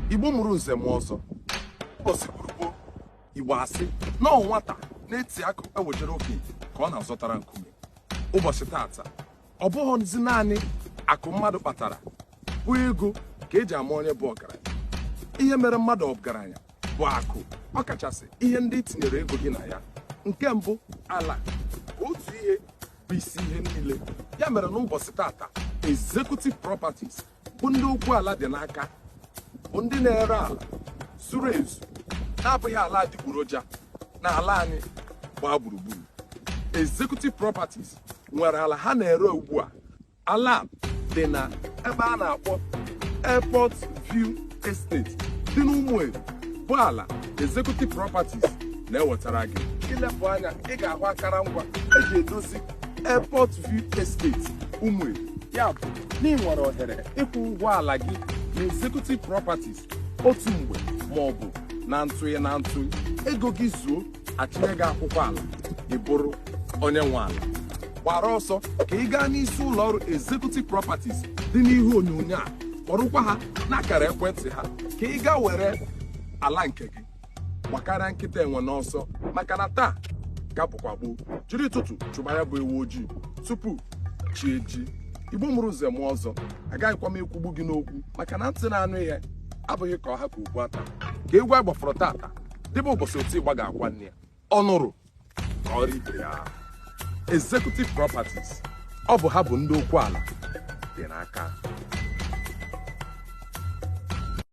igbo mụrụ nze mụọ ọzọ ụbọchị gboo gboo igbo asị na nwata na-eti akụ ewejere okenye ka ọ na-azọtara nkume ụbọchị tata ọ bụghịzi naanị akụ mmadụ kpatara bụ ego ka eji ama onye bụ ọgaranya ihe mere mmadụ ọgaranya bụ akụ ọ kachasị ihe ndị i tinyere ego gị na ya nke mbụ ala otu ihe bụ isi ihe niile ya mere n'ụbọchị tata executive properties bụ ndị okwu ala dị n'aka bụ ndị na-ere ala zuru ezu na-abụghị ala adịgboroja na ala anyị gbaa gburugburu executive properties nwere ala ha na-ere ugbu a ala dị na ebe a na-akpọ airport view estate dị n'ụmụeri bụ ala executive properties na-ewetara gị i lepụ anya ị ga-ahụ akara ngwa eji edozi Airport View Estate Umueri ya bụ na ị nwere ohere ịkwụ ụgwọ ala gị na Executive Properties otu mgbe ma ọ bụ na ntụnye na ntụnye ego gị zuo a chịnye gị akwụkwọ ala ị bụrụ onye nwe ala gbara ọsọ ka ị gaa n'isi ụlọ ọrụ Executive Properties dị n'ihu onyonyo a kpọrọkwa ha n'akara ekwentị ha ka ị gaa were ala nke gị gbakarịa nkịta enwe n'ọsọ maka na taa ka bụkwa gboo jiri ụtụtụ chụba ya bụ ewu ojii tupu chi ejie igbo mụrụ nze mụọ ọzọ agaghịkwa m ekwugbu gị n'okwu maka na ntị na-anụ ihe abụghị ka ọ ha ka okpu ata ka egwu a gbafọrọ tata dịbe ụbọchị oti ịgba ga-akwa nne ya ọ nụrụ kọọrọ ibe ya executive properties ọ bụ ha bụ ndị okwu ala dị n'aka